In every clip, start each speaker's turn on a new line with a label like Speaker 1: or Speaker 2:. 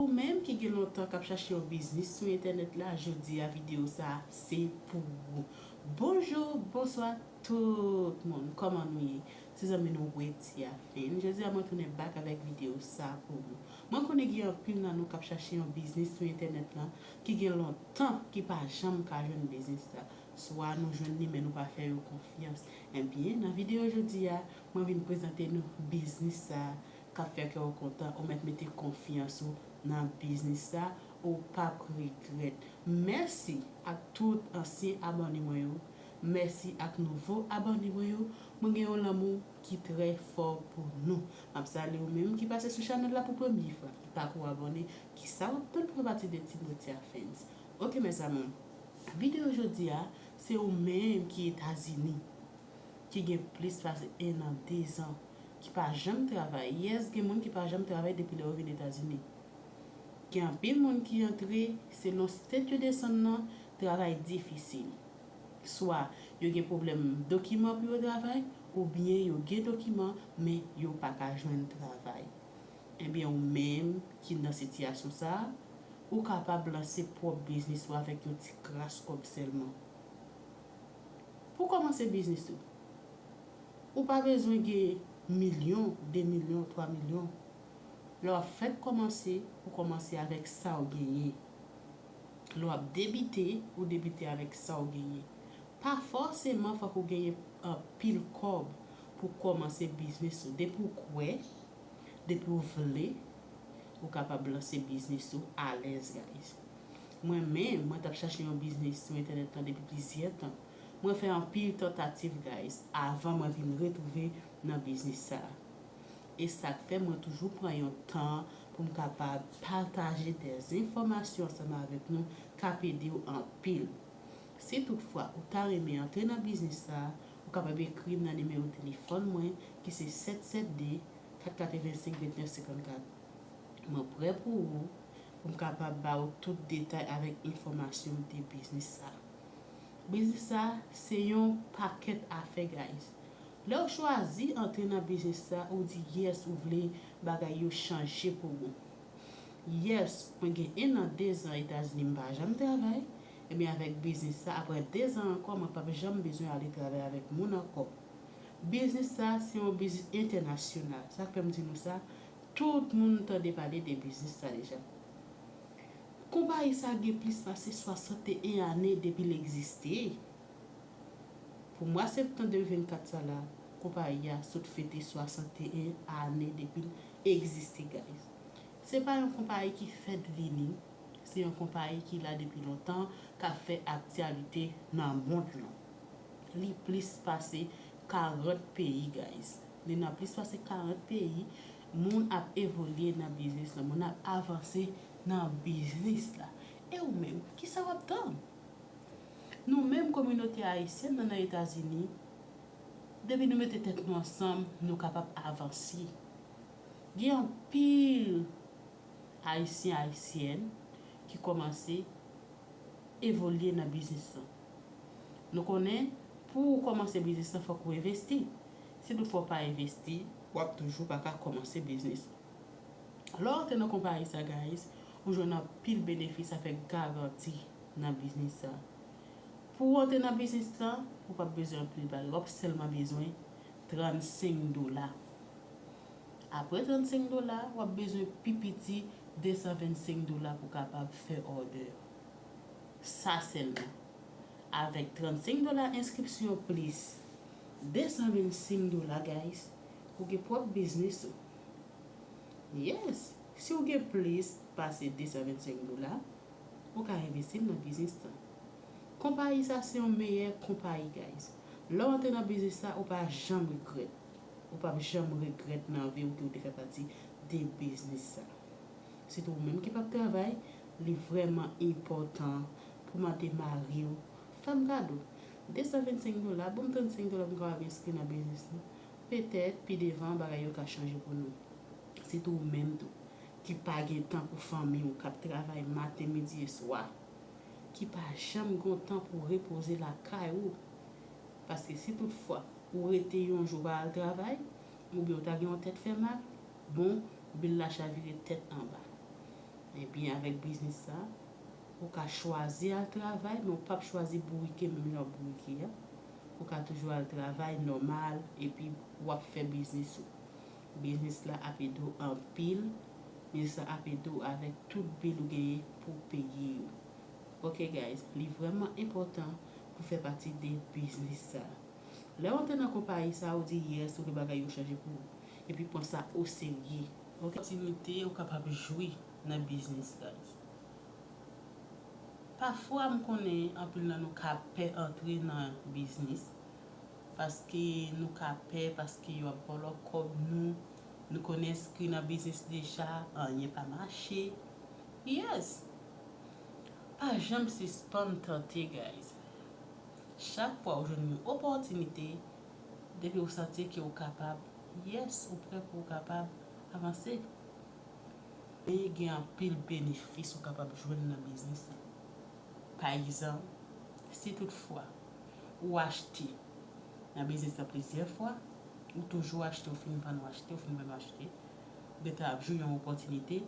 Speaker 1: Ou menm ki gen lontan kap chache yon biznis sou entènèt la jodi a video sa se pou ou Bonjour bonswa tout moun kòman nou ye se zanmi nou Wetty a fin jodi a mwen tounen back avèk video sa pou ou mwen konnen gen anpil nan nou kap chache yon biznis sou entènèt lan ki gen lontan ki pa janm ka jwenn biznis sa swa nou jwenn li men nou pa fè yo konfyans ebyen nan video jodi a mwen vin prezante nou biznis sa kap fè kè w kontan ou mèt mete konfyans ou nan biznis sa ou pap regrèt mèsi ak tout ansyen abòne mwen yo mèsi ak nouvo abòne mwen yo mwen gen yon lanmou ki trè fò pou nou map salye ou menm ki pase sou chanèl la pou premye fwa ki pako abòne kisa wap tann pou fè pati de team Rothia Fans ok mes amours videyo jodi a se ou menm ki etazini ki gen plis pase 1 an 2 zan. ki pa janm travay yes gen moun ki pa janm travay depi lè yo vin etazini gen anpil moun ki antre selon state yo desann nan travay difisil swa yo gen pwoblèm dokiman pou yo travay ou byen yo gen dokiman men yo paka jwenn travay ebyen ou menm ki nan sitiyasyon sa ou kapab lanse pwòp biznis ou avèk yon ti kras kòb sèlman pou kòmanse biznis ou. Ou pa bezwen gen milyon, 2 milyon, 3 milyon. Lè w ap fèk kòmanse, ou kòmanse avèk sa w genyen. Lè w ap debite, ou debite avèk sa w genyen. Pa fòseman fòk ou genyen anpil kòb pou w kòmanse biznis ou. Depi w kwè, depi w vle, ou kapab lanse biznis ou alèz guys. Mwen menm, mwen t ap chache yon biznis sou entènèt lan depi plizyè tan. Mwen fè anpil tantativ guys avan mwen vin retwouve nan biznis sa. E sak fè mwen toujou pran yon tan poum kapab pataje de enfòmasyon ansanm avèk nou kap edew anpil. Si tout fwa ou ta renmen antre nan biznis sa ou kapab ekrim nan nimewo telefòn mwen ki se 772 485 2954. Mwen prè pou ou poum kapab ba ou tout detay avèk enfòmasyon de biznis sa. Biznis sa se yon pakèt afè guys. Lèw chwazi antre nan biznis sa ou di yes ou vle bagay yo chanje pou ou. Yes mwen gen 1 an 2 zan etazini m pa janm travay ebyen avèk biznis sa aprè 2 zan ankò mwen pap janm bezwen ale travay avèk moun ankò. Biznis sa se yon biznis entènasyonal sak fèm di nou sa tout moun tande pale de biznis sa deja. Konpayi sa gen plis pase 61 ane depi l egziste. Pou mwa septan 2024 sa la, konpayi a sot fete 61 ane depi l egziste guys. Se pa yon konpayi ki fèt vini, se yon konpayi ki la depi lontan k ap fè aktyalite nan mond lan. Li plis pase 40 peyi guys. Li nan plis pase 40 peyi. Moun ap evolye nan biznis lan, moun ap avanse nan biznis la. E ou menm, ki sa w ap tann? Nou menm kominote Ayisyèn nan nan Etazini, depi nou mete tèt nou ansanm, nou kapab avanse. Gen anpil Ayisyen, Ayisyèn ki kòmanse evolye nan biznis lan. Nou konnen pou ou kòmanse biznis lan fòk ou envesti. Si tou fwa w pa envesti, w ap toujou pa ka kòmanse biznis. Lè w antre nan konpayi sa guys, ou jwenn anpil benefis avèk garanti nan biznis sa. Pou w antre nan biznis lan, ou pap bezwen anpil bagay, w ap sèlman bezwen 35 dola. Apre 35 dola, w ap bezwen pi piti 225 dola pou w kapab fè òdè. Sa sèlman. Avèk 35 dola enskripsyon plis. 200 mil sing dola guys ou gen pwòp biznis ou yes siw gen plis pase 225 dola ou ka envestil nan biznis lan konpayi sa se yon meyè konpayi guys lèw antre nan biznis la ou pa janm regrèt ou pap janm regrèt nan viw ke ou te fè pati de biznis sa sitou ou menm ki pap travay li vrèman enpòtan pou mande mariw fèm kado 225 dola, bon m 35 dola m kapab enskri nan biznis lan. Petèt, pi devan, bagay yo ka chanje pou nou. Sitou ou menm tou, ki pa gen tan pou fanmi ou, k ap travay maten, midi e swa, ki pa janm gen w tan pou w repoze lakay ou. Paske si tout fwa, ou rete yon jou ou pa al travay, oubyen ou ta gen yon tèt fè mal, bon, bil la chavire tèt anba. Ebyen, avèk biznis sa, Ou ka chwazi al travay men ou pap chwazi bourike menm jan w bourike a. Ou ka toujou al travay nòmal epi w ap fè biznis ou. Biznis la ap ede w anpil, biznis la ap ede w avèk tout bil ou genyen pou w peye yo. Ok guys, li vrèman enpòtan pou w fè pati de biznis sa. Lè w antre nan konpayi sa ou di yes ou vle bagay yo chanje pou ou. Epi pran sa oserye. Ok. Opòtinite ou kapab jwi nan biznis guys. Pafwa m konnen anpil nan nou ka pè antre nan biznis paske nou ka pè paske yo ap vòlò kòb nou, nou konn enskri nan biznis deja anyen pa mache yes! Pa janm sispann tante guys chak fwa ou jwenn yon opòtinite depi ou santi ke ou kapab yes ou prè pou ou kapab avanse. E gen anpil benefis ou kapab jwenn nan biznis lan. Pa egzanp, si tout fwa ou achte nan biznis lan plizyè fwa, ou toujou achte ou fin vann ou achte ou fin vann ou achte, ou gen tan ap jwi yon opòtinite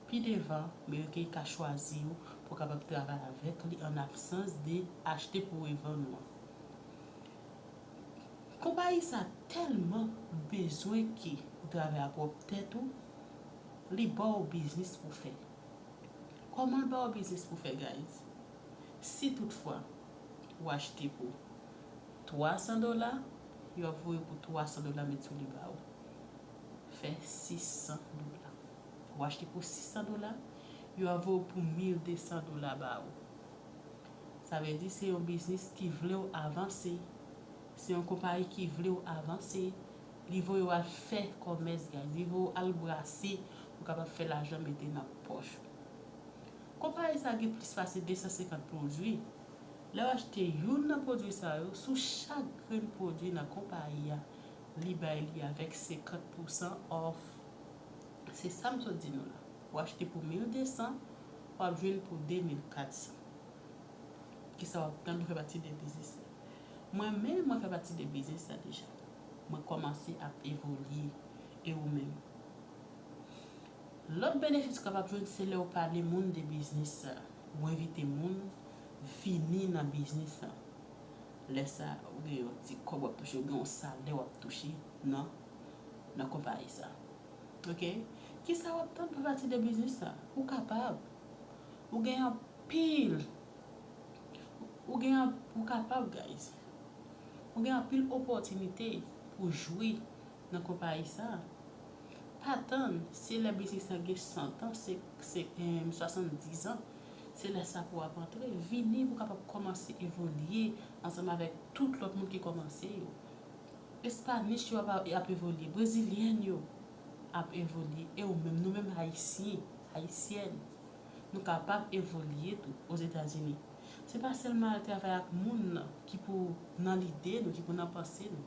Speaker 1: pi devan men ke ka chwazi ou pou kapab travay avèk li an absans de achte pou revann ou an. Konpayi sa telman bezwen ke ou travay a pwop tet ou li baw biznis pou fè. Koman l baw biznis pou fè guys? Si tout fwa ou achte pou 300 dola yo ap voye pou 300 dola met sou li baw fè 600 dola. Ou achte pou 600 dola yo ap voye pou 1200 dola baw Sa vle di se yon biznis ki vle w avanse, se yon konpayi ki vle w avanse, li voye w al fè kòmès guys, li voye w al brase pou w kapab fè lajan mete nan pòch ou. Konpayi sa gen plis pase 250 pwodwi, lè w achte youn nan pwodwi sa yo, sou chak grenn pwodwi nan konpayi a, li bay li avèk 50 pousan off. Se sa m sot di nou la. Ou achte pou 1200, wap jwenn pou 2400. Kisa wap tann ou fè pati de biznis la. Mwen menm mwen fè pati de biznis la deja. Mwen kòmanse ap evolye. E ou menm? Lòt benefis ou kapab jwenn se lèw pale moun de biznis sa. Ou envite moun vini nan biznis la. Lè sa ou gen yon ti kòb wap touche, ou gen yon salè wap touche nan konpayi sa. Ok kisa wap tann pou pati de biznis sa ou kapab ou gen anpil ou gen anpil ou kapab guys ou gen anpil opòtinite pou jwi nan konpayi sa pa tann se lè biznis lan gen 100 ans se 70 ans se lè sa pou ap antre vini pou kapab kòmanse evolye ansanm avèk tout lòt moun ki kòmanse yo. Espanich yo ap evolye, brezilyèn yo ap evolye e ou menm, nou menm Ayisyen, Ayisyèn, nou kapab evolye tou Ozetazini. Se pa sèlman al travay ak moun ki pou nan lide nou, ki pou nan panse nou.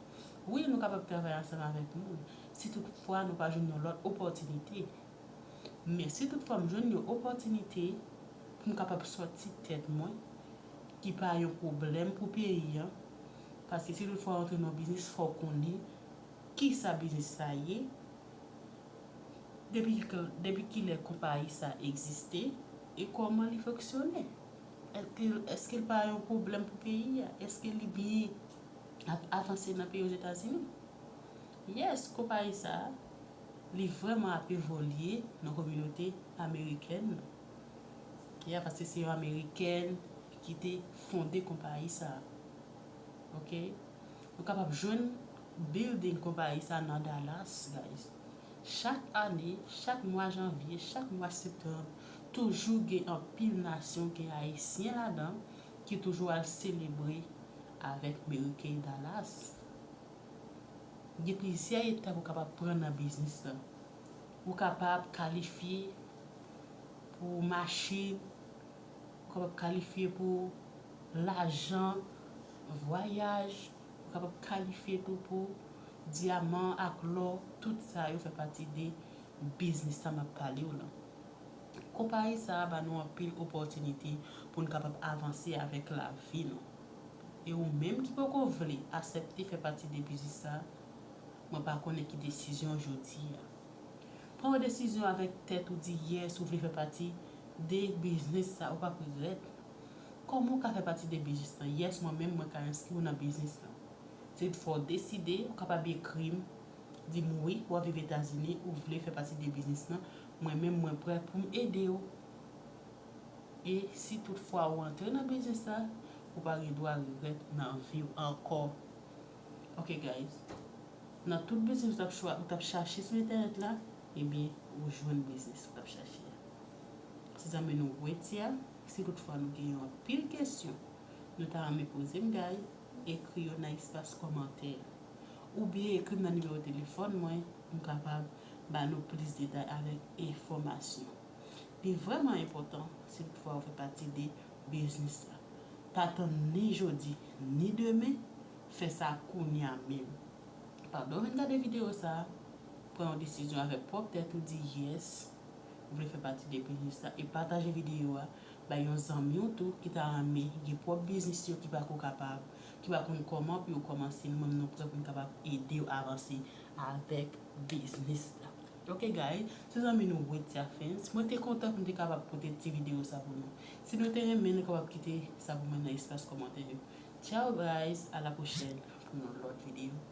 Speaker 1: Wi, nou kapab travay ansanm avèk moun, si tout fwa nou pa jwenn yon lòt opòtinite. Men si tout fwa m jwenn yon opòtinite pou m kapab sòti tèt mwen, ki pa yon pwoblèm pou peyi an, paske si tout fwa w antre nan yon biznis fò w konnen kisa biznis sa ye, depi kilè konpayi sa egziste e kòman li fonksyone. Eske l pa yon pwoblèm pou peyi a? Eske li byen ap avanse nan peyi Ozetazini? Yes konpayi sa a li vrèman ap evolye nan kominote amerikèn nan. Ok a paske se yon amerikèn ki te fonde konpayi sa a. Ok nou kapab jwenn building konpayi sa a nan Dallas guys. Chak ane, chak mwa janvye, chak mwa septanb toujou gen anpil nasyon gen ayisyen ladan ki toujou al selebre avèk meriken Dallas. Gen plizyè etap ou kapab pran nan biznis lan. Ou kapab kalifye pou machin, ou kapab kalifye pou lajan, vwayaj, ou kapab kalifye tou pou dyaman ak lò, tout sa yo fè pati de biznis sa map pale w lan. Konpayi sa a ba nou anpil opòtinite pou nou kapab avanse avèk lavi nou. e ou menm ki poko vle asèpte fè pati depizis sa, mwen pa konnen ki desizyon w jodi a. Pran yon desizyon avèk tèt ou di yè si w vle fè pati de biznis sa ou pap regrèt. Kòman w ka fè pati de biznis lan? Yes mwen menm mwen ka enskri w nan biznis lan. Se yon fwa w deside, ou kapab ekri m di m wi wap viv etazini ou vle fè pati de biznis lan mwen menm mwen prè pou m ede w. E si tout fwa ou antre nan biznis la ou pa gen dwa regrèt nan viw ankò ok guys nan tout biznis ou tap chwa ou tap chache sou entènèt la ebyen ou jwenn biznis ou tap chache a ti zanmi nou weti a si tout fwa nou gen yon pil kesyon nou ta renmen pozem guys ekri yo nan espas kòmantè a oubyen ekrim nan nimewo telefòn mwen m kapab ba nou plis detay avèk enfòmasyon. Li vrèman enpòtan si tout fwa ou fè pati de biznis la. Pa tann ni jodi ni demen, fè sa kounya menm. Pandan w vin gade videyo sa, pran yon desizyon avèk pwòp tèt ou di yes ou vle fè pati de biznis la e pataje videyo a bay yon zanmi w tou ki ta renmen gen pwòp biznis yo ki pako kapab, ki pa konn kòman pou yo kòmanse nou menm nou prè pou n kapab ede w avanse avèk biznis la. Ok guys, se zanmi nou Widya Fans. Mwen te kontan pou m te kapab pote ti videyo sa pou nou. Si nou te renmen nou kapab kite sa pou mwen nan espas kòmantè yo. Ciao guys, a la pwochèn pou yon lòt videyo.